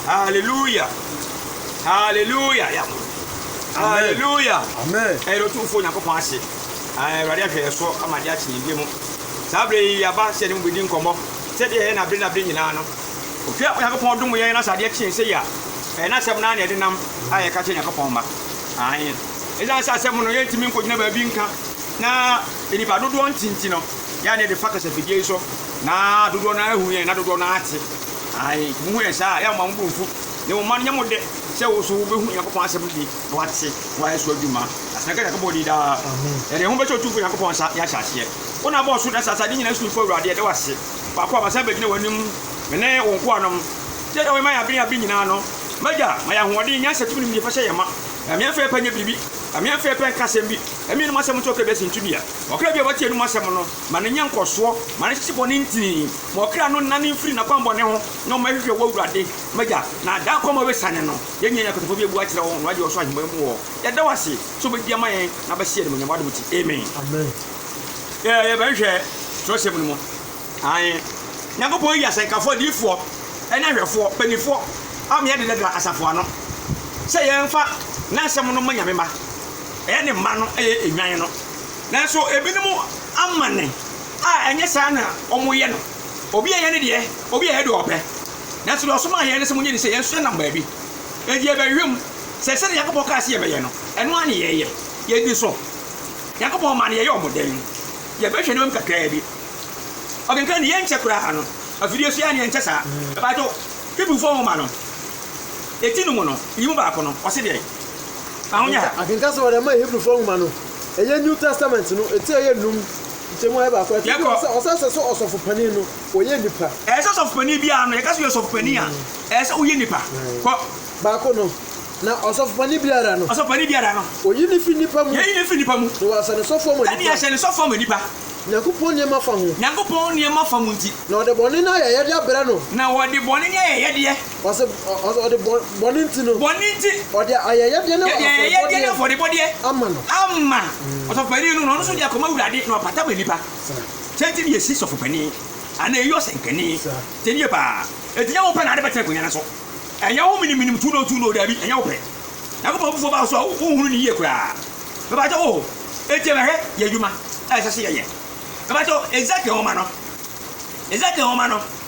Hallelujah. Hallelujah. Yɛ abɔ. Hallelujah. Amen. Ɛyɛ no tumfo Nyankopɔn ase. Awurade ahwɛ yɛ so ama de akye yɛn mu. Saa bere yi yaba sɛ ne mu bedi nkɔmmɔ. Sɛdeɛ ɛyɛ na bere na bere nyinaa no. Hwɛ Onyankopɔn dom yɛn na sɛ adeɛ kyen sɛ yi a ɛyɛ n'asɛm naa na ɛde nam a yɛka kyerɛ Nyankopɔn mma. Ae. Ɛsiane sɛ asɛm no yɛntumi nkɔgyina baabi nka na nnipa dodoɔ nti nti no, yɛa ne yɛde fa kasafidie yi so na dodoɔ no ahu yɛn na dodoɔ no ate. Aane, mo mu yɛ saa a, yɛ momma mo bo mfu, na mmom momma no nyɛ mo dɛ sɛ wo nso wobɛhu Onyankopɔn asɛm no bi na woate na woayɛ so adwuma, na tena Onyankopɔn din daa. Yɛde yɛn ho bɛhyɛ Otumfoɔ Onyankopɔn nsa, ne ahyɛaseɛ. Wo na abɔɔ soro ne asaase, ade nyinaa Otumfoɔ Awurade, yɛda wo ase, faako a masan abɛgyina w'anim, me ne wo nkoanom, sɛdeɛ woayɛ ma yɛn abere ne abere nyinaa no. M'Agya, ma yɛn ahoɔden, nyansa, tumi ne nimdeɛ fa hyɛ yɛn ma, na ɛmmeɛ mfa yɛn pɛ nyɛ biribi, ɛmmeɛ mfa yɛn pɛ nka asɛm bi, ɛmmeɛ yɛn anom asɛm nto ɔkra bi asintu dua, ɔkra bi a wate yɛn anom asɛm no. ma no nyɛ nkɔsoɔ, ma no hyehye bɔne ntini, ma ɔkra no nnane mfiri n'akwammɔne ho, na ɔmmɛhwehwɛ wo Awurade, m'Agya, na da kɔ ma wasiane no. Yɛn nyinaa yɛn akotofoɔ bi abu akyerɛ wo, na woagye ɔsoro ahemmaa mu hɔ. Yɛda wo ase sɛ wobɛdi ama yɛn na wobɛhyɛ yɛn animuonyam w'adom nti. Amen. Amen. Yɛ, yɛbɛhwehwɛ twerɛsɛm no mu. Ae. Nyankopɔn ayi asɛnkafoɔ, adiyifoɔ, ne ahwɛfoɔ, mpaninfoɔ, a meɛ dedadra asafo ano, sɛ yɛmfa N'asɛm no mma Nyame mma. Ɛyɛ Ne mma no, ɛyɛ nnwan no. Nanso ebinom amanne a ɛnyɛ saa na wɔyɛ no. Obi a ɛyɛ ne deɛ, obi a ɛyɛ deɛ ɔpɛ. Nanso deɛ ɔsomaa yɛn no se monyɛ ne sɛ yɛn nso yɛnam baabi. Enti yɛbɛhwehwɛm sɛ sɛdeɛ Nyankopɔn kaa sɛ yɛbɛyɛ no, ɛno ara ne yɛyɛ. Yɛdi so. Nyankopɔn mma no, yɛyɛ wɔn dɛn? Yɛbɛhwɛ nneɛma mu kakraa bi. Ɔkenkan ne yɛnkyɛ koraa no, afidie so yɛ a ne yɛnkyɛ saa. Mpakyɛw, Hebrifoɔ nwoma no, eti no mu no, yi mu baako no, ɔse deɛn? Ahonya ha. Akenkan sɛ wɔde ama Hebrifoɔ nwoma no, Ɛyɛ New Testament no ti a ɛyɛ num nkyɛmu a ɛyɛ baako. Ɛtɔ bi wɔ sɛ ɔsan sɛ so ɔsɔfo panin no wɔyɛ nipa. Ɛyɛ sɛ ɔsɔfo panin biara no yɛka sɛ yɛ ɔsɔfo panin a ɛyɛ sɛ woyɛ nipa. Kɔ. Baako no. Na ɔsɔfo panin biara no. Ɔsɔfo panin biara no. Wɔyi no fi nipa mu. Yɛyi no fi nipa mu. Na wɔahyɛ no sɔfo ama nipa. Ɛne yɛahyɛ no sɔfo ama nipa. Nyankopɔn nneɛma fa ho. Nyankopɔn nneɛma fa mu nti. Na wɔde bɔne ne ayɛyɛdeɛ abrɛ no. Na wɔde bɔne ne ayɛyɛdeɛ. Ɔse ɔse ɔde bɔ bɔne nti no. Bɔne nti. Ɔde ayɛyɛdeɛ ne afɔrebɔdeɛ. Ɔde ayɛyɛdeɛ ne afɔrebɔdeɛ. Ama no. Ama ɔsɔfopanin no na ɔno nso de akɔma Awurade na ɔpata ma nipa. Sɛ nti ne esi sɔfopanin anaa eyi ɔsɛnkani. Te nie paa. Enti nyɛ wopɛ na ade bɛtena akonwa no so. Ɛnyɛ wo menim menim tu no tu no daabi ɛnyɛ wopɛ. Nyankopɔn abufuo ba wo so a wonhunu no yie koraa. Mepakyɛ wo etie me hwɛ yɛ adwuma a ɛsɛ sɛ yɛyɛ. Mepakyɛ wo Ezekiel nwoma no Ezekiel nwoma no.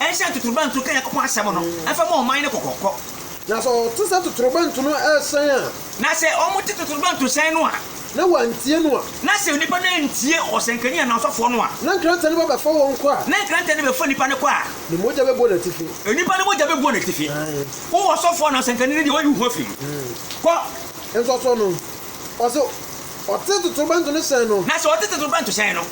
nhyɛ ntotorobɛnto ka Nyankopɔn asɛm no mfa mmu ɔman no kɔkɔkɔ. Na sɛ wɔte sɛ totorobɛnto no rehyɛn a. Na sɛ wɔte totorobɛnto hyɛn no a. Na wɔantie no a. Na sɛ nnipa no antie ɔsɛnkani anaa ɔsɔfoɔ no a. Na nkrantɛ no ba bɛfa wɔn kɔ a. Na nkrantɛ no bɛfa nnipa no kɔ a. Ne mogya bɛbɔ n'atifi. Nnipa no mogya bɛbɔ n'atifi. Wo ɔsɔfoɔ anaa ɔsɛnkani no deɛ, wɔayi wo ho afiri mu. Kɔ. Nsɔsɔ no, ɔse ɔte totorobɛnto no hyɛn no. Na sɛ ɔte totorobɛnto hyɛn no.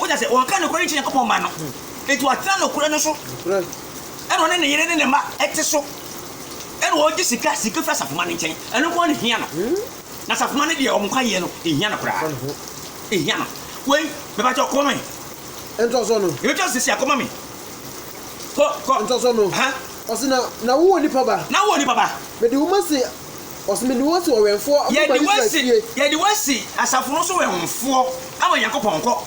Wagya sɛ wɔnka nokorɛ nkyerɛ Nyankopɔn mma no, enti watena nokorɛ no so, ɛna ɔne ne yere ne ne mma te so, ɛna ɔgye sika sika firi asafomma no nkyɛn, ɛno nko ara na ɛhia no, na asafomma no deɛ wɔn nkwagyeɛ no, ɛnhia no koraa, ɛnhia no. Wei, mepakyɛw, kɔma me. Ntɔsɔ no. Yɛbɛtwa no seesei a, kɔma me. Kɔ, kɔ. Ntɔsɔ no. Aha. Ɔse na, na wowɔ nipa ba. Na wowɔ nipa ba. Mede wo ma se. Yɛde wo asi yɛde wo asi asafo no so wɛnfoɔ ama Nyankopɔn. Kɔ.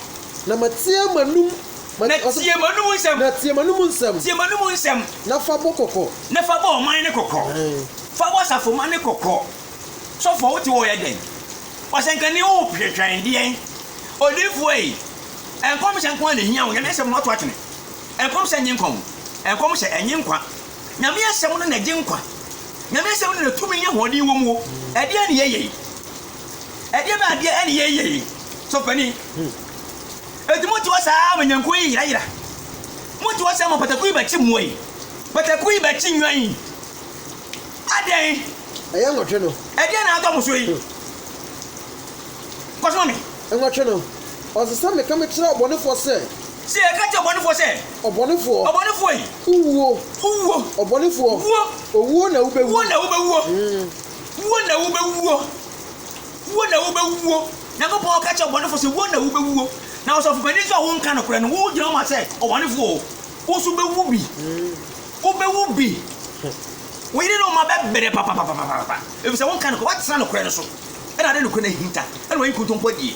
Na ma tie m'anom. Na tie m'anom nsɛm. Na tie m'anom nsɛm. Tie m'anom nsɛm. Na fa bɔ kɔkɔ. Na fa bɔ ɔman no kɔkɔ. Fa bɔ asafomma no kɔkɔ. Sɔfoɔ wo te hɔ yɛ dɛn? Ɔsɛnkani wo twɛtwɛn deɛn? Odiyifoɔ yi, nkɔmhyɛ nko ara na ɛhia wo, Nyame nsɛm na woato atwene. Nkɔmhyɛ nye nkwa o, nkɔmhyɛ ɛnye nkwa. Nyame asɛm no na ɛgye nkwa. Nyame asɛm no na tumi ne ahoɔden wɔ mu o. Ɛdeɛn ne yɛyɛ yi? Ɛdeɛ bɛn adeɛ ɛne yɛyɛ yi? Sɔfani, ɛti mo te hɔ saa ama nyankuo yi yera yera. Mo te hɔ saa ama pataku yi bɛkye mmoa yi. Pataku yi bɛkye nnwan yi. Adɛn? Ɛyɛ nwɔtwe no. Ɛdeɛn na atɔ mo so yi? Kɔsoma me. Nwɔtwe no. Ɔsɛ sɛ meka mekyerɛ ɔbɔnefoɔ sɛ. Sɛ yɛka kyerɛ ɔbɔnefoɔ sɛ. Ɔbɔnefoɔ. Ɔbɔnefoɔ yi. Wowuo. Wowuo. Ɔbɔnefoɔ. Wuo. Owuo na wobɛwuo. Wuo na wobɛwuo. Wuo na wobɛwuo. Wuo na wobɛwuo. Nyankopɔn ka kyerɛ ɔbɔnefoɔ sɛ wuo na wobɛwuo. Na ɔsɔfopanin nso a wonka nokorɛ no, wogyina hɔ ma sɛ ɔbɔnefoɔ o, wo nso wobɛwu bi. Wobɛwu bi. Wo yere ne wo mma bɛbrɛ papapapapapa. Ɛfiri sɛ wonka nokorɛ, woatena nokorɛ no so. Ɛna ade nokorɛ no ahinta. Ɛna wayi nkontompo adie.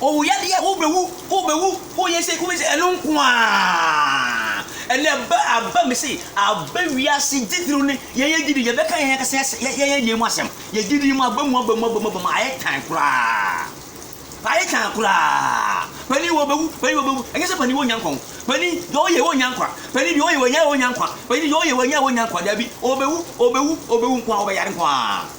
Owu yadeɛ wo bɛwu wo bɛwu wo yɛ sei wo bɛ sei ɛno nko ara ɛnɛ ɛbɛ aba mi sei aba wiase gyidiri ne yɛn yɛ gyidi yɛ bɛka yɛn akasa yɛ yɛ yɛ deɛ mu asɛm yɛ gyidi mu aba mu aba mu aba mu aba mu ayɛ tan koraa ayɛ tan koraa panin wɔ bɛwu panin wɔ bɛwu ɛnyɛ sɛ panin wɔ nya nkwa ho panin deɛ ɔyɛ wɔ nya nkwa panin deɛ ɔyɛ wɔ nya wɔ nya nkwa panin deɛ ɔyɛ wɔ nya wɔ nya nkwa dabi ɔbɛwu ɔbɛwu ɔbɛwu nko ara ɔbɛyare nko ara.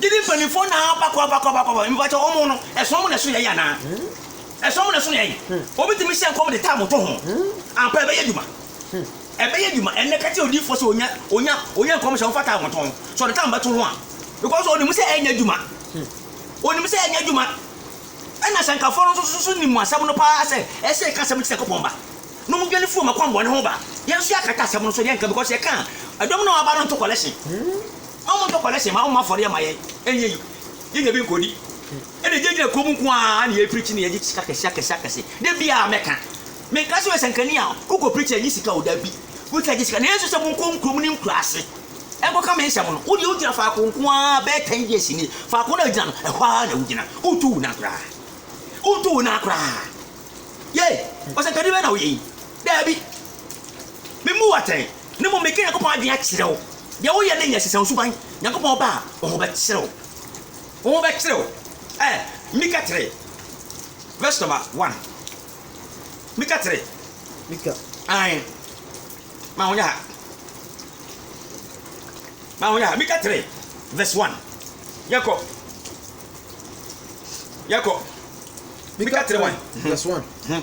Gyidi mpaninfoɔ na aba kɔ aba kɔ aba kɔ aba mpakyɛ wɔn no ɛsono wɔn na ɛsono yɛn anaa ɛsono wɔn na ɛsono yɛn obi tumi hyɛ nkɔm de taa mo to ho ampa ɛbɛyɛ adwuma ɛbɛyɛ adwuma ɛnɛ kɛkyɛ odiifoɔ sɛ onya onya onya nkɔm hyɛ wɔfa taa mo to ho sɛ ɔde taa mo bɛto ho a because onim sɛ ɛnyɛ adwuma onim sɛ ɛnyɛ adwuma ɛna sɛnkafoɔ no nso so nim asɛm no paa sɛ ɛsɛ ɛka asɛm no ti sɛ kɔpɔn ba na ɔmo dwane firi ɔmo akwammɔne ho ba yɛn nso yɛakata asɛm no so yɛnka because yɛka ɛdɔm na ɔaba no nto collection. Ma wɔntɔ kɔlɛhyen, ma wɔmmɔ afɔreɛ mma yɛn. Ɛnyɛ yie. Yɛn deɛ bɛnkɔdi. Ɛnna ɛgyinagyina kurom nko ara na yɛrepreakyi na yɛgye sika kɛse akɛse akɛse. Da biara mɛka. Menka sɛ woyɛ sɛnkani a wokɔpreakyi a ɛnyɛ sika o, dabi. Wotumi gye sika nanso sɛ monkɔ nkurom ne nkuraase nkɔka me nsɛm no, wo deɛ wogyina faako nko ara bɛyɛ ten years nie. Faako no a wogyina no, ɛhɔ ara na wogyina. Wontu wo nan koraa. Wontu wo nan koraa. Yei, ɔsɛnkani bɛn na woyɛ yi? Dabi. Memmu wo atɛn. Na mmom meka Nyankopɔn adwene akyerɛ wo, deɛ woyɛ no nyɛ sesa wo suban, Nyankopɔn ba a, wo ho bɛkyere wo. Wo ho bɛkyere wo. Eh, Mika 3 verse number 1. Mika 3. Mika. Ae. Ma ho nyɛ ha. Ma ho nyɛ ha. Mika 3 verse 1. Yɛkɔ. Yɛkɔ. Mika 3 1. Verse 1. Hmm.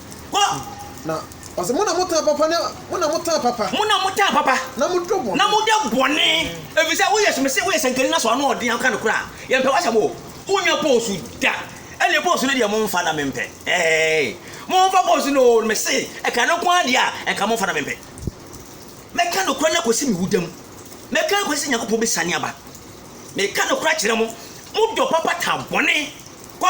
Na ɔse, Mo na mo taa papa ne, mo na mo taa papa. Mo na mo taa papa. Na mo dɔ bɔne. Na mo dɔ bɔne. Ɛfiri sɛ woyɛ, so mese woyɛ sɛnkani na so ano ɔden aka no koraa. Yɛmpɛ w'asɛm o. Mo nyɛ pose da. Ɛnneɛ pose no deɛ mo mfa na mempɛ. Eeii. Mo mfa pose no o, mese, ɛka no nko ara deɛ a, ɛnka mo mfa na mempɛ. Mɛka nokorɛ no akɔsi me wuda mu. Mɛka akɔsi sɛ Nyankopɔn bɛsiane aba. Meka nokorɛ kyerɛ mo, mo dɔ papa taa bɔne. Kɔ,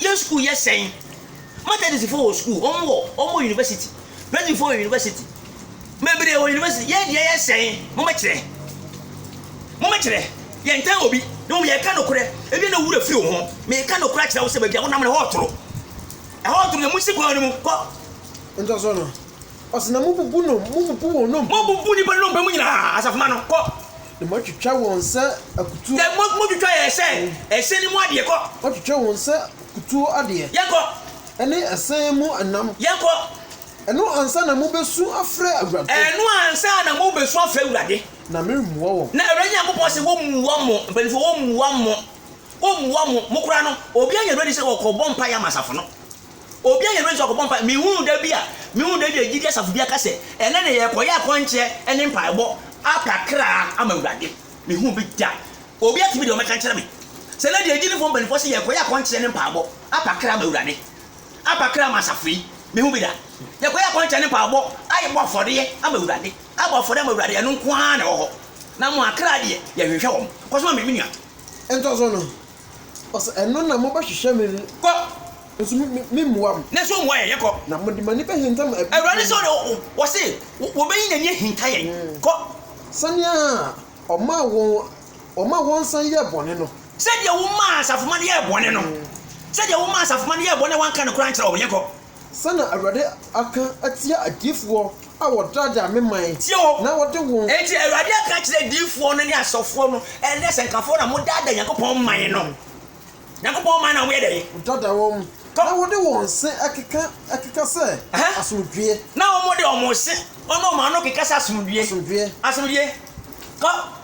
Yɛn sukuu yɛ sɛn? Methodistfoɔ wɔ sukuu, wɔn wɔ, wɔn wɔ university. Presbyfoɔ wɔ university. Bebree wɔ university. Yɛn deɛ yɛ sɛn? Mommɛkyerɛ. Mommɛkyerɛ. Yɛntan obi. Na mmom yɛka nokorɛ. Ebia na wo werɛ firi wo ho. Meka nokorɛ akyerɛ wo sɛ baabi a wonam no, ɛhɔ retoro. Ɛhɔ retoro. Yɛn mu si kwan no mu. Kɔ. Ntɔso no, Ɔse na mobubu nom, mobubu wɔn nom. Mobubu nnipa nnompe mu nyinaa, asafomma no, kɔ. Na moatwitwa wɔn sɛ akutuo. Sɛ mo, motwitwa yɛn sɛ ɛhyɛn no mu adeɛ, kɔ. Moatwitwa wɔn sɛ akutuo adeɛ. Yɛnkɔ. Ɛne ɛsɛn mu nam. Yɛnkɔ. Ɛno ansa na mobesu afrɛ Awurade. Ɛno ansa na mobesu afrɛ Awurade. Na meremmua wɔn. Na Awurade Nyankopɔn se wɔmmua mo, mpanimfoɔ, wɔmmua mo, wɔmmua mo, mo koraa no, obiara nya no adi sɛ ɔkɔbɔ mpaeɛ ama asafo no. Obi a yɛfrɛ no sɛ ɔkɔbɔ mpae, menhunuu da bi a mehuu da bi a gyidi asafo bi aka sɛ, Ɛnnɛ na yɛrekɔyɛ akɔnkyeɛ ne mpaebɔ apra kra ama Awurade. Menhuu bi da. Obi atumi de ɔmmɛka nkyerɛ me sɛ ɛnnɛ deɛ agyidifoɔ mpanimfoɔ se yɛrekɔyɛ akɔnkyeɛ ne mpaebɔ apa kra ama Awurade, apa kra ama asafo yi. Menhuu bi da. Yɛkɔyɛ akɔnkyeɛ ne mpaebɔ ayɛbɔ afɔdeɛ ama Awurade, abɔ afɔdeɛ ama Awurade, ɛno nko ara na ɛwɔ hɔ. Na mo akra deɛ, yɛhwehwɛ wɔn. Kɔ so ma me, me nua. Ntɔso no, Ɔsɛ ɛno na mobɛhwehwɛ me no. Kɔ. Nso me, me, memmua mo. Nanso ommua yɛn. Kɔ. Na mode mo ani bɛhinta mo abusua. Awurade sɛ ɔde, wɔse, wɔbɛyi n'ani ahinta yɛn. Kɔ. Sɛnea ɔmaa wɔn, wɔmaa wɔn san yɛɛ bɔne no. Sɛdeɛ womaa asafomma no yɛɛ bɔne no. Sɛdeɛ womaa asafomma no yɛɛ bɔne a wɔanka nokorɛ ankyerɛ wɔn. Yɛnkɔ. Sɛ na Awurade aka atia adiyifoɔ a wɔdaadaa me man na wɔde wɔn. Tie o! Enti Awurade aka akyerɛ adiyifoɔ no ne asɔfoɔ no, Ɛnnɛ asɛnkafoɔ na modaadaa Nyankopɔn man no. Nyankopɔn man no a moyɛ dɛn. Modaadaa wɔn, na wɔde wɔn se keka, keka sɛ, Asomdwoeɛ. Na wɔde wɔn se, wɔn ɔman no keka sɛ, Asomdwoeɛ. Asomdwoeɛ. Asomdwoeɛ. Kɔ.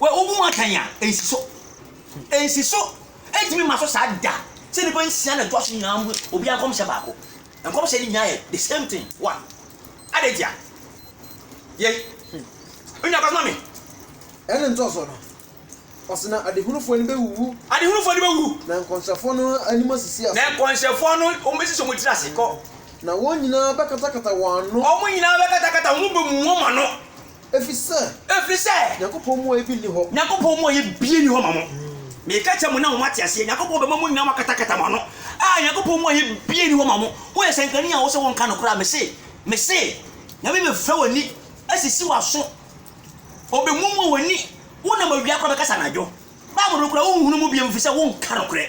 Wɔ wo mu atɛn a, ensi so. Ensi so. Entumi mma so saa da. Sɛ nnipa nsia na ɛtoa so nyinaa mu obiara nkɔmhyɛ baako. Nkɔmhyɛ no nyinaa yɛ the same thing, one. Adɛn ntia? Yɛ. Wo nua kɔsoma me. Ɛna ntɔso no, ɔse na adehunufoɔ no bɛwuwu. Adehunufoɔ no bɛwuwu. Na nkɔnhyɛfoɔ no anim asisi ase. Na nkɔnhyɛfoɔ no, wɔbɛsisi wɔn tiri ase. Kɔ. Na wɔn nyinaa bɛkatakata wɔn ano. Wɔn nyinaa bɛkatakata wɔn bɛmumu wɔn ano. Efisɛ. Efisɛ. Nyankopɔn mu ɔyɛ bi nni hɔ. Nyankopɔn mu ɔyɛ bie nni hɔ ma mo. Meka kyerɛ mo na moate aseɛ. Nyankopɔn bɛma mo nyinaa moakatakata mo ano. A, Nyankopɔn mu ɔyɛ bie nni hɔ ma mo. Woyɛ sɛnkani a wosɛ wonka nokorɛ a, mese, mese, Nyame bɛfira w'ani asisi w'aso, Ɔbɛmuamua w'ani, wonam awia koraa bɛkasa anadwo. Bible no koraa wonhunu mu bio, efisɛ wonka nokorɛ.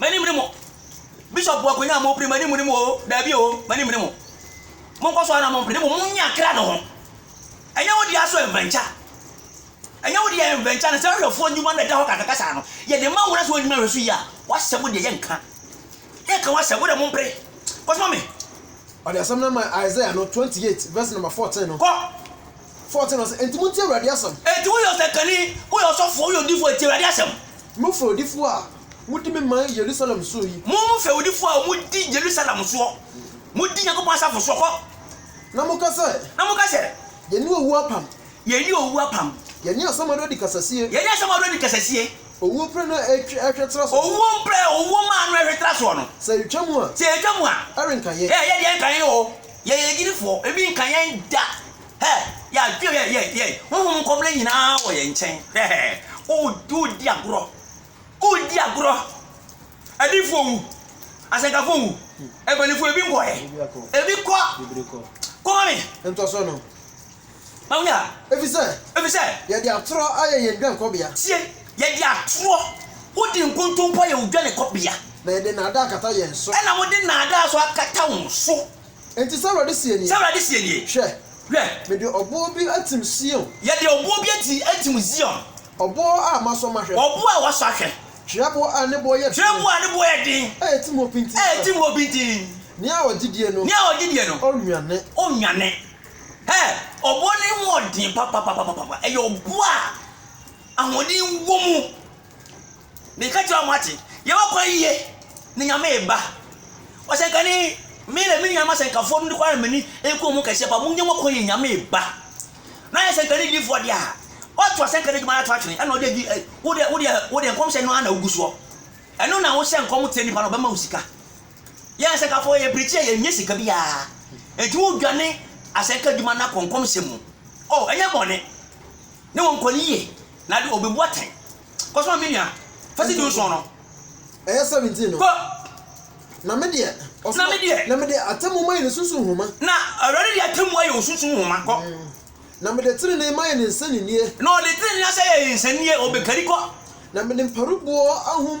M'anim ne mo. Bishop bu akonnwa a mopere, m'anim ne mo o, daabi o, m'anim ne mo. Monkɔ so ara na mompere, na mmom monyɛ akra no ho. Ɛnyɛ wo dea so ɛnvɛnkya. Ɛnyɛ wo dea ɛnvɛnkya no, sɛ ahwɛfoɔ nnwuma no ɛda hɔ kakra saa no, yɛde ma wo na sɛ woannyina nhwɛ so yie a, w'asɛm no deɛ yɛnka. Yɛnka w'asɛm, wo deɛ mompere. Kɔsoma me. Ɔde asɛm no maa Isaiah no, 28 vs nɔma 14 no. Kɔ! 14 ɔse, Enti montie Awurade asɛm. Enti woyɛ ɔsɛnkani, woyɛ ɔsɔfoɔ, woyɛ odiyifoɔ a, tie Awurade asɛm. Mo fɛwdifoɔ a modi me man Yerusalem soɔ yi. Mo fɛwdifoɔ a modi Yerusalem soɔ, modi Nyankopɔn asafo soɔ, kɔ. Na moka sɛ. Na moka sɛ. Yɛne owuo apam. Yɛne owuo apam. Yɛne asamando adi kasasie. Yɛne asamando adi kasasie. Owuo pire no ɛhwɛ tra soɔ. Owuo pire, owuo maa no ɛhwɛ tra soɔ no. Sɛ ɛretwa mu a. Sɛ ɛretwa mu a. Ɛrenka yɛn. Ɛyɛ deɛ ɛrenka yɛn oo. Yɛyɛ agyidifoɔ, ebi nka yɛn da. Hɛ! Yɛadwe hɛ! Yɛ! Yɛ! Honhom nkɔmena nyinaa wɔ yɛn nkyɛn. Hɛ! Hɛ! Wodi, wodi agorɔ. Wodi agorɔ. Adiyifoɔ nwu. Asɛnkafoɔ nwu. Mpanimfoɔ, ebi nkɔ hɛ? Ebi kɔ. Kɔma me. Ntɔso no. Ma wo yɛ. Ɛfiri sɛ. Ɛfiri sɛ. Yɛde atorɔ ayɛ yɛn dwankɔbea. Tie! Yɛde atorɔ. Wode nkontompo ayɛ wo dwankɔbea. Na yɛde nnaadaa akata yɛn so. Ɛna wode nnaadaa nso akata wo so. Enti sɛ Awurade seɛ nie. Sɛ Awurade seɛ nie. Hwɛ! Hwɛ! Mede ɔboɔ bi atim Sion. Yɛde ɔboɔ bi ati atim Zion. Ɔboɔ a masɔ mahwɛ. Ɔboɔ a wɔasɔ ahwɛ. Twerɛboɔ a ne boɔ yɛ den. Twerɛboɔ a ne boɔ yɛ den. A ɛtim hɔ pintinn. A ɛtim hɔ pintinn. Nea ɔgye die no. Nea ɔgye die no. Ɔnnwane. Ɔnnwane. Hɛ! Ɔboɔ no ho yɛ den papapapapapa. Ɛyɛ ɔboɔ a ahoɔden wɔ mu. Meka kyerɛ wɔn, moate? Yɛbɛkɔ ayie na Nyame reba. Ɔsɛnkani, me na me nuanom asɛnkafoɔ no nokware na m'ani nku wɔn kɛseɛ paa. Monyɛ mo kwan yɛ Nyame reba. Na yɛ sɛnkani difoɔ deɛ a, woato asɛnkani adwuma no ato atwene ɛna ɔde adi wode wode wode nkɔmhyɛ no ara na wogu soɔ. Ɛno na wohyɛ nkɔm kyerɛ nipa no ɔbɛma wo sika. Yɛn asɛnkafo yɛ pirikyi a yɛnnya sika biara, enti wodwane asɛnka adwuma no akɔ nkɔmhyɛ mu. Oh, ɛnyɛ bɔne! Ne wɔn nkɔ no yiye, na ade obebu atɛn. Kɔsoma, me nua, fa sidi nson no. Ɛyɛ seventeen no. Kɔ. Na me deɛ, ɔsoma. Na me deɛ. Na mede atemmu mayɛ ne sunsum nhoma. Na Awurade de atemmu ayɛ wo sunsum nhoma. Kɔ. Na mede trenee mayɛ ne nsɛnninie. Na ɔde trenee ahyɛ yɛn nsɛnninie. Obekari. Kɔ. Na mede mparuboɔ ahum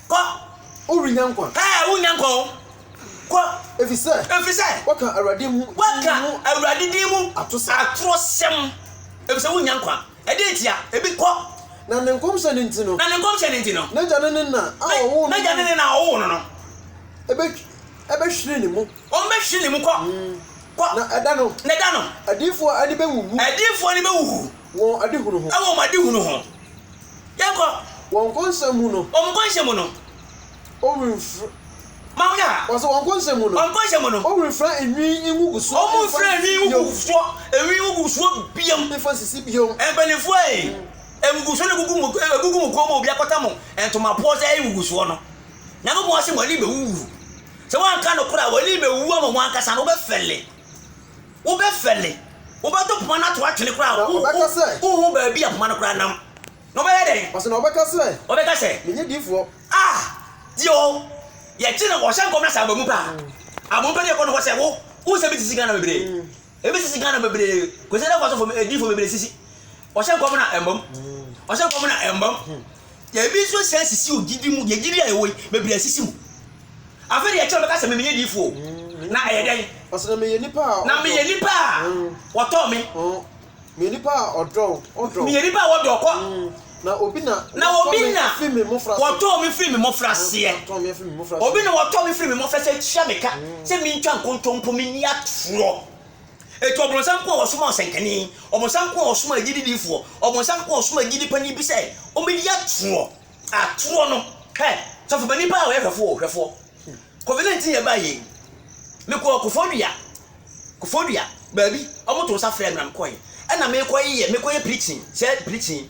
Kɔ, worennya nkwa. Ɛɛ, worennya nkwa o. Kɔ, efisɛ. Efisɛ. Woaka Awurade mu. Woaka Awurade din mu. Atorosɛm. Atorosɛm, efisɛ worennya nkwa. Ɛdeɛn ntia? Ebi, kɔ. Na ne nkɔmhyɛ no nti no. Na ne nkɔmhyɛ no nti no. N'agya ne ne na a ɔwoo no no. N'agya ne ne na a ɔwoo no no. Ɛbɛhwiri ne mu. Wɔbɛhwiri ne mu, kɔ. Kɔ. Na ɛda no. Na ɛda no. Adiyifoɔ ani bɛwuwu. Adiyifoɔ ani bɛwuwu. Wɔn adehunu ho. Ɛwɔ wɔn adehunu ho. Yɛnkɔ. Wɔn nkɔnhyɛ mu no. Wɔn nkɔnhyɛ mu no. Wɔrenfira. Ma wo ya. Wɔsɛ wɔn nkɔnhyɛ mu no. Wɔn nkɔnhyɛ mu no. Wɔrenfira enwi ngugusoɔ. Wɔrenfira enwi ngugusoɔ. Enwi ngugusoɔ biom. Mfa nsisi biom. Mpanimfoɔ ee, ngugusoɔ no gugu mo, egugu mo kɔn mu obi akɔtɛ mo ntomapoɔ sɛ ɛyɛ ngugusoɔ no. Nyankopɔn se mo ani bɛwuwu. Sɛ woanka nokorɛ a, w'ani bɛwuwu ama wo ankasa no, wobɛfɛle. Wobɛfɛle, wobɛto poma no ato atwene koraa a, wonhu baabi a poma no koraa nam. Na wobɛyɛ dɛn? Ɔse, na wɔbɛka sɛ. Wɔbɛka sɛ. Menyɛ difoɔ. Ah! Tie o, yɛkye no, ɔhyɛ nkɔm na sɛ aba mu pɛ a, aba mu pɛ na yɛkɔ ne hɔ sɛ, wo, wo nsɛm sisi Ghana bebree. Ebi sisi Ghana bebree. Kwesi Nantwi asɔfo, adiyifoɔ bebree sisi. Ɔhyɛ nkɔm na ɛmba mu. Ɔhyɛ nkɔm na ɛmba mu. Yɛn bi nso sɛ sisi o gyidi mu yɛ gyidi a yɛwɔ yi bebree sisi mu afei de ɛkyɛ ɔbɛka sɛ mimi yɛ diifo mm, na ɛyɛ dɛn ɔsɛ na meyɛ nipa a na meyɛ nipa a mm. wɔtɔ me mm. meyɛ nipa a ɔdɔ ɔdɔ meyɛ nipa a wɔdɔ kɔ na obi na na obi na wɔtɔ me firi me mmɔfra seɛ obi na wɔtɔ me firi me mmɔfra sɛ kyia me ka sɛ mentwa nkontompo menni atorɔ Enti ɔbonsam nko a wɔsomaa ɔsɛnkani, ɔbonsam nko a wɔsomaa agyidi difoɔ, ɔbonsam nko a wɔsomaa agyidi panin bi sɛ ɔmmɛdi atorɔ, atorɔ no, hɛ, sɔfo panin paa a ɔyɛ hwɛfoɔ o, hwɛfoɔ, Covid 19 yɛ baeɛ yi, mekɔɔ Kofoɔdua, Kofoɔdua, baabi, wɔto nsa frɛɛ me na mekɔeɛ, ɛna mekɔyɛ, mekɔyɛ preaching, sɛ preaching,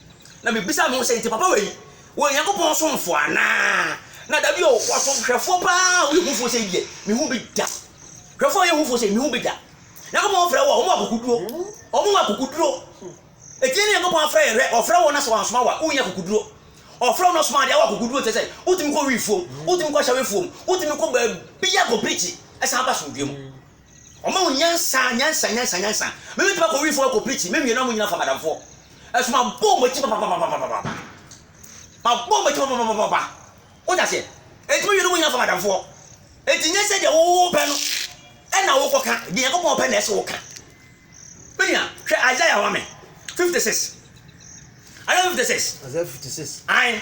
Na mibisaa me ho sɛ, 'Enti papa wei, wɔyɛ Onyankopɔn somfo anaa? Na dabi o, wɔsom hwɛfoɔ paa a ɔyɛ hufoɔ sei deɛ, mehu bi da. Hwɛfoɔ a ɔyɛ hufoɔ sei, mehu bi da. Nyankopɔn frɛ wo a, wɔwɔ akokoduro. Wɔwɔ akokoduro. Ɛtie ne Nyankopɔn afrɛ yɛ hwɛ, ɔfrɛ wo na sɛ wansoma wo a, wonyɛ akokoduro. Ɔfrɛ wo na ɔsoma deɛ, wɔ akokoduro kyɛ sɛ, wotumi kɔ wiifoɔ mu, wotumi kɔ hyɛwefoɔ mu, wotumi kɔ baabiara kɔ preachi, san ba asomdwoeɛ mu. Ɔma wo nyansa nyansa nyansa nyansa Me bɛtumi akɔ wifoɔ akɔ preaching Me wie na ɔmo nyina fa madamfoɔ Ɛso mabɔ ɔmo akyi papapapapapa Mabɔ ɔmo akyi papapapapapa Wote aseɛ? Enti me wie na ɔmo nyina fa madamfoɔ Enti nyɛ sɛ deɛ wo pɛ no Ɛna wo kɔ ka Deɛ Nyankopɔn pɛ na ɛsɛ wo ka Me nua hwɛ Isaiah ma me 56 Isaiah 56 Isaiah 56 Ae.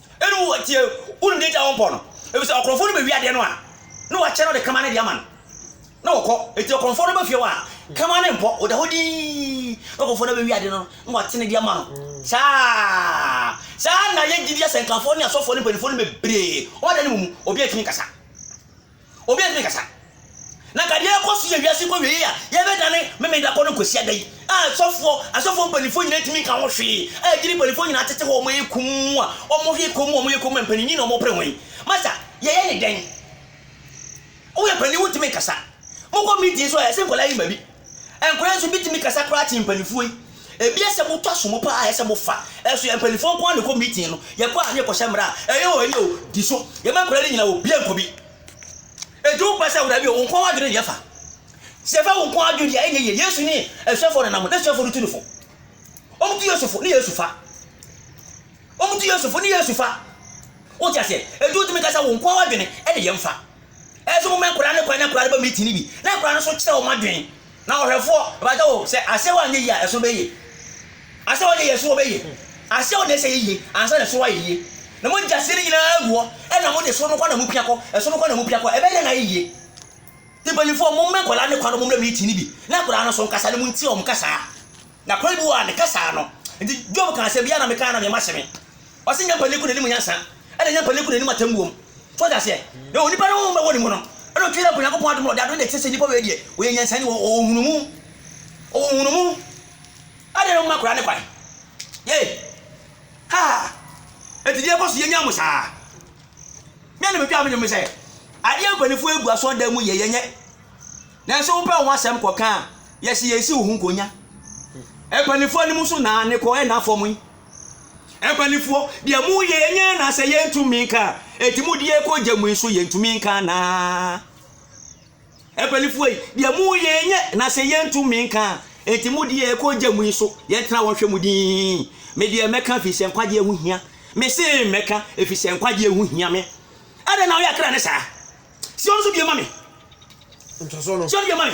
Ɛnna ɔwɔ hɔ tie wo nne gya wo mpɔ no, ɛfiri sɛ ɔkorɔmfoɔ no bɛwi adeɛ no a na wakyɛ no de kama no de ama no, na ɔkɔ. Enti ɔkorɔmfoɔ no ba fie hɔ a, kama no mpɔ, ɔda hɔ dinn, na ɔkorɔmfoɔ no abɛwi adeɛ no na wate no de ama no. Saa ara, saa ara na yɛn gyidie asɛnkafoɔ ne asɔfoɔ ne mpanimfoɔ no bebree, wɔn adan no mu mu, obiara ntumi nkasa. Obi antumi nkasa. Na nka deɛ ɛrekɔ so yɛ wiase kɔwiei a yɛbɛdane Memeneda kɔ no Kwasiada yi a sɔfoɔ, asɔfoɔ mpanimfoɔ nyinaa ntumi nka ho hwee a agyiri mpanimfoɔ nyinaa tete hɔ a wɔyɛ komm a wɔyɛ komm a wɔyɛ komm a mpaninyin na wɔpere wɔn yi. Masa, yɛyɛ ne dɛn? Woyɛ panin wontumi nkasa. Mokɔ meeting nso a ɛsɛ nkwadaa yi ma bi. Nkwadaa nso bi tumi kasa koraa kyen mpaninfoɔ yi. Ebi yɛ sɛ moto asom paa ayɛ sɛ mofa ɛso yɛ mpaninfoɔ nko ara na ɛkɔ meeting no. Yɛkɔ a ne yɛkɔ hyɛ mmara a ɛyɛ o ɛyɛ o di so. Yɛma nkwadaa no nyina obia nkɔ bi. Eti wo pɛ sɛ wo dabi o wo nko ara adwene na yɛfa. Sɛ yɛfa wo nko ara adwene deɛ ɛnyɛ yie. Yesu ne asuafoɔ nenam hɔ na asuafoɔ no tu no fo. Wɔn tu Yesu fo ne Yesu fa. Wɔn tu Yesu fo ne Yesu fa. Wote aseɛ? Eti wotumi kasa wo nko ara adwene ɛne yɛmfa. Ɛsɛ sɛ wɔma nkwadaa no kwan na nkwadaa no ba meeting no bi, na nkwadaa no nso kyerɛ wɔn adwene. Na ɔhwɛfoɔ, ɛbata o, sɛ aseɛ wɔ anyɛ yie a, ɛso bɛyɛ yie. Aseɛ wɔ anyɛ yie, ɛso wɔ bɛyɛ yie. Aseɛ wɔ na ɛsɛ yɛ yie, ansa na ɛso wɔ ayɛ yie. Na mogya aseɛ no nyinaa agu hɔ, ɛna mode ɛso no kɔ na mopia kɔ, ɛso no kɔ na mopia kɔ, ɛbɛyɛ dɛn na ayɛ yie? Nti mpanimfoɔ, momma nkwadaa no kwan na wɔmmra meeting no bi, na nkwadaa no nso nkasa no, montie wɔn kasaa. Na kwan bi wɔ a, ne kasaa no. Nti Job kaa asɛm bi, yɛ a na mekae na meɛma hyɛ me. Ɔse nyɛ mpanin ko n'anim nyansa, ɛna nyɛ mpanin ko n'anim atemmuom. So wate aseɛ? Na onipa no honhom bɛwɔ ne mu no, ɛna ɔtwe dɛ kɔ Nyankopɔn adom na ɔde adom deɛ kyerɛ sɛ nipa wei deɛ ɔyɛ nyansani, ɔwɔ nhunumu, ɔwɔ nhunumu. Adɛn na moma akoraa no kwan? Yei! Haa! Enti deɛ ɛkɔ so yɛ nyaa mo saa? Deɛ na metwaa me dwom ne sɛ, adeɛ a mpaninfoɔ agu asɔrdan mu yɛ, yɛnyɛ. Nanso wopɛ wo ho asɛm kɔka a, yɛse yɛnsi wo ho nkonya. Mpaninfoɔ anim so na ne kɔ, ɛnna fam yi. Mpanimfoɔ, deɛ moyɛ yɛnyɛ anaa sɛ yɛntumi nka a, enti mode yɛkɔ gya mu nso yɛntumi nka anaa? Mpanimfoɔ yi, deɛ moyɛ yɛnyɛ na sɛ yɛntumi nka a, enti mode yɛkɔ gya mu nso yɛntena hɔ nhwɛ mu din. Me deɛ mɛka ɛfiri sɛ nkwagyeɛ ho hia. Mese mɛka ɛfiri sɛ nkwagyeɛ ho hia me. Adɛn na woyɛ akra ne saa? Sion so bie ma me. Sion bie ma me.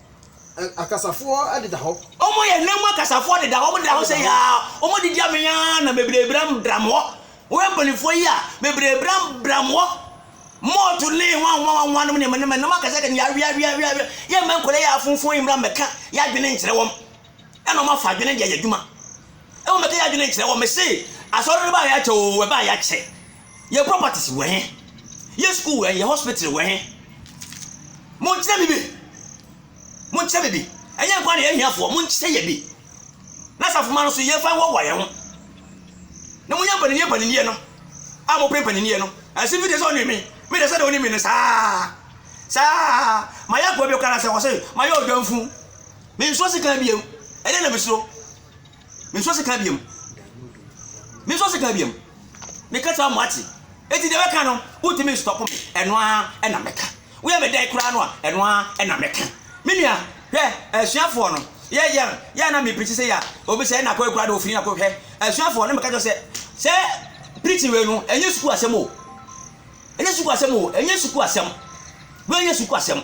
akasafoɔ deda hɔ. Wɔn yɛ nna mu akasafoɔ deda hɔ, wɔn deda hɔ sɛ yaa, wɔn didi amee ara na bebree bram bram hɔ. Wɔn yɛ mpanimfoɔ yi a bebree bram bram hɔ. Mɔɔto ne nwanwanwanwa nom ne ne nom akasa kɛne yaa wia wia wia wia. Yɛ mma nkɔla yɛ afunfun yi mmra mmɛka yɛ adwene nkyerɛ wɔn. Ɛna wɔn afa adwene deɛ yɛ adwuma. Ɛwɔ mɛka yɛ adwene nkyerɛ wɔn. Mese asɔre no baa yɛ akyɛ o, ɛbaa yɛ akyɛ. Yɛ properties wɔ he? Yɛ school wɔ he? Yɛ hospital wɔ he? Monkyerɛ me bi. Monkyerɛ me bi. Ɛnyɛ nkwa na yɛ ahiafoɔ, monkyerɛ yɛ bi. Na asafoma no so yɛmfa nwɔwa yɛn ho. Na monyɛ mpaninniɛ mpaninniɛ no. A mopɛ mpaninniɛ no. Ɛsɛ bi de sɛ ɔne me. Me de sɛ de ɔne me no saa. Saa. Mayɛ akoa bi kora na sɛ ɔse mayɛ ɔdwamfu. Mensuo sika biam. Ɛdeɛ na mesuro. Mensɔ sika biam. Mensɔ sika biam. Meka kyerɛ mo ate. Eti deɛ bɛka no, wotumi stɔpo me. Ɛno ara ɛna mɛka. Woyɛ me dɛn koraa no a, ɛno ara ɛna mɛka. Me nua, hwɛ, asuafoɔ no, yɛ yɛ yɛ na me pirikyi sɛ yɛ obi sɛ ɛna kɔ ekura de ofini na kɔ hwɛ. Asuafoɔ no meka kyerɛ sɛ, sɛ pirikyi wei no, ɛnyɛ sukuu asɛm o. Ɛnyɛ sukuu asɛm o. Ɛnyɛ sukuu asɛm. Wei ɛnyɛ sukuu asɛm.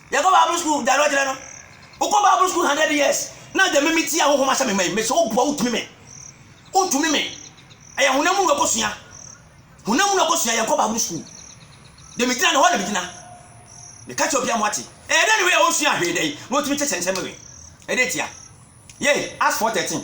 Yɛkɔ Bible school da no akyerɛ no wokɔ Bible school hundred years na agya mimi ti ahohom ahyɛ me man mesi woboa wotumi me wotumi me ɛyɛ honam mu na ɛkɔsua honam mu na ɛkɔsua yɛnkɔ Bible school de me gyina ne hɔ na me gyina meka kyɛ obi amoate ɛyɛ dɛ ne wei a wonsua ahwee dɛ na wotumi kyɛ kyɛnsɛm wei ɛdɛ tia yei Acts 4:13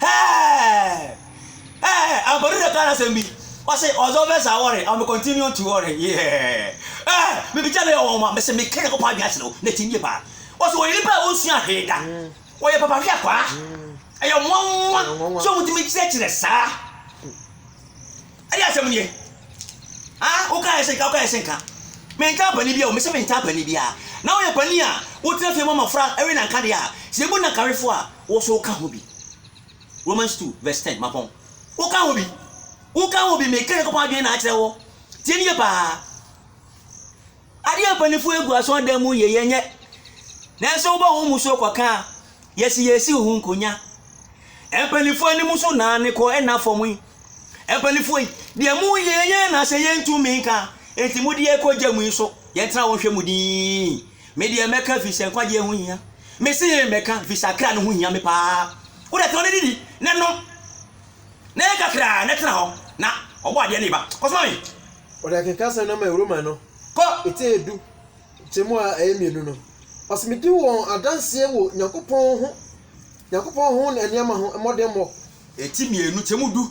Hɛɛɛɛɛɛɛ Ɛɛɛɛ Ampadu na ɛka n'asɛm bi ɔse ɔdɔ bɛ saa wɔre I will continue on to wɔre Yeehɛɛɛɛɛ Ɛɛɛɛ Mebegya meyɛ ɔwanwa mese meka Nyankopɔn adwene akyerɛ wo na ɛte nie paa Ɔse ɔyɛ nipa a ɔnsua hwee da Ɔyɛ papa hwɛ akwaa Ɛyɛ nwanwa sɛ ɔmutumi kyerɛkyerɛ saa Ɛdeɛ asɛm nie Haa woka yɛ se nka woka yɛ se nka Mentaa panin biaa o mese mentaa panin biaa Na woyɛ panin a wotena fie ma mmɔfra we nanka deɛ a Sɛ yɛbu nankawefoɔ a Wo nso woka ho bi. Romans two verse ten, Mapɔn. Woka ho bi. Woka ho bi. Meka Nyankopɔn adwene na akyerɛ wo. Tie no yie paa. Adeɛ a mpanimfoɔ agu asɔredan mu yɛ yɛnyɛ. Nanso wobɔ ho mmusuo kɔka a, yɛsi yɛsi wo ho nkonya. Mpanimfoɔ anim so na ne kɔ nna fam yi. Mpanimfoɔ yi, deɛ moyɛ yɛnyɛ anaasɛ yɛntumi nka, enti mode yɛn kɔ gya mu yi so, yɛntena hɔ nhwɛ mu dinn. Me deɛ mɛka fi sɛ nkwagyeɛ ho hia. Me se mɛka fi sɛ akra no ho hia me paa. Wo deɛ tɔn ne didi ne nom na yɛ kakraa na tena hɔ na ɔbɔ adeɛ ne ba. Kɔsoma me. Ɔde akenkasɛm no maa Roma no, Kɔ. Eti edu, nkyɛmu a ɛyɛ mmienu no. Ɔse medi wɔn adanseɛ wɔ Nyankopɔn ho, Nyankopɔn ho ne nneɛma ho, mmɔdemmɔ. Eti mmienu, nkyɛmu du.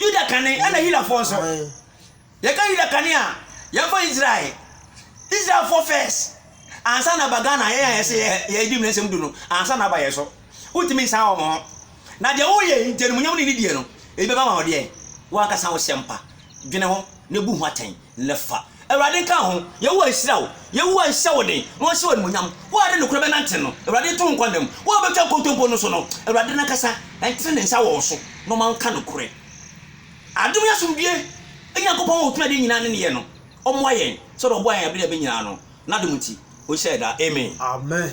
Yuda kane ɛna Yudafoɔ nso. Yɛka Yuda kane a, yɛmfa Israel. Israelfoɔ first ansa na aba Ghana yɛn a yɛse yɛ yɛdi mmeransɛm du no ansa na aba yɛn so. Wontumi nsan wɔn ho. Na deɛ woyɛ nti animuonyam ne nidie no, ebi bɛba ma wo deɛn? Wo ankasa wo sɛmpa. Dwene ho na bu ho atɛn. ne fa. Awurade nka ho. Yehowa nhyira wo. Yehowa nhyɛ wo den na ɔnhyɛ wo animuonyam. Wo a de nokorɛ bɛnante no, Awurade nto wo nkwa mu. Wo a wobɛtwa nkontompo no so no, Awurade no ankasa ntene ne nsa wɔ wo so na ɔma wo nka nokorɛ. Adom ne asomdwoeɛ Nyankopɔn a ɔtumi adeɛ nyinaa ne neyɛ no, ɔmmoa yɛn sɛdeɛ ɔboaa yɛn berɛ a ɛbɛ nyinaa no. N'adom nti, ɔnhyira yɛn daa. Amen. Amen.